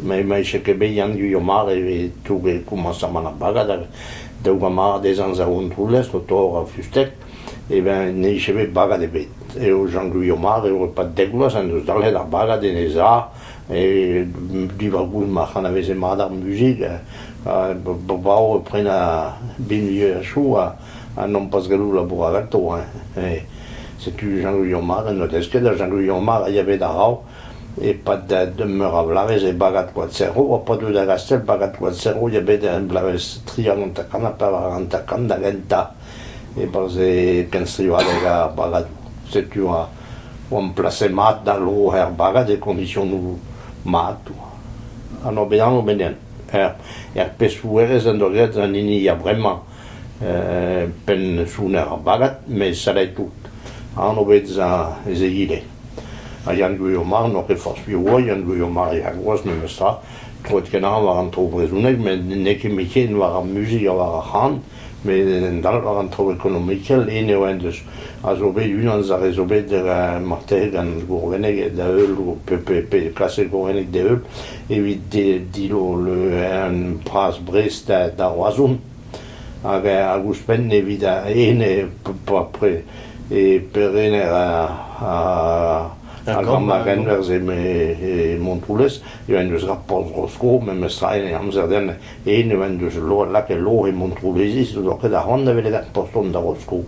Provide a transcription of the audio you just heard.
Mes ma ise ket bet Yann Gwilhou mat evit toug e komañsamant ar bagad ha daou gant marc'h dezhañ Zaontroullez o torr ar fusteg e ben ne ise bet bagad ebet. Eo Jean Gwilhou mat eo e-pad dek vloaz en deus dalc'het ar bagad en e za e diwar goust ma c'hanaveze mat ar muzik ha brav e prenañ binvioù ha choù ha... ha nompas gallout labourat ganto hein, eh setu Jean-Guyon Mar en doa desket ha Jean-Guyon Mar a ya bet a-raok e-pad da meur a vloavezh e bagad Koad Serro ha pas deuet da Gastell bagad Koad Serro ya bet er bloavezh tri hag hanter-kant ha pevar hag hanter-kant da gentañ e-barzh e kenstrivadeg ar bagad setu oa- oamp placet mat da lod er bagad e kondisionoù mat ha n'eo bet anv benniel er er pesoùerezh en doa graet an hini a vremañ penn-sounn ar bagad met sellet tout. Anv bezañ ez eo ivez. Ha Yann Gwilhomar n'oa ket forzh piv oa, Yann Gwilhomar eo ar groaz memestra. Troet kenañ war an traoù brezhonek met n'eo ket ken war ar muzik ha war ar c'han, met en dal war an traoù ekonomikel. Eno eo en deus a zo bet unan eus ar re zo bet marteze gant Gourvenneg da heul, pe, pe, pe klasek Gourvenneg da heul. evit dilole'en pras Brest da Roazhon hag ouzhpenn evit ene e perener ar Gramagenwerzh e Montroulez eo en deus graet porzh Bro-Skos memestra en amzer-den ene en deus lakaet lor e Montroulezis n'o ket c'hoant da welet ar poston da Roskos.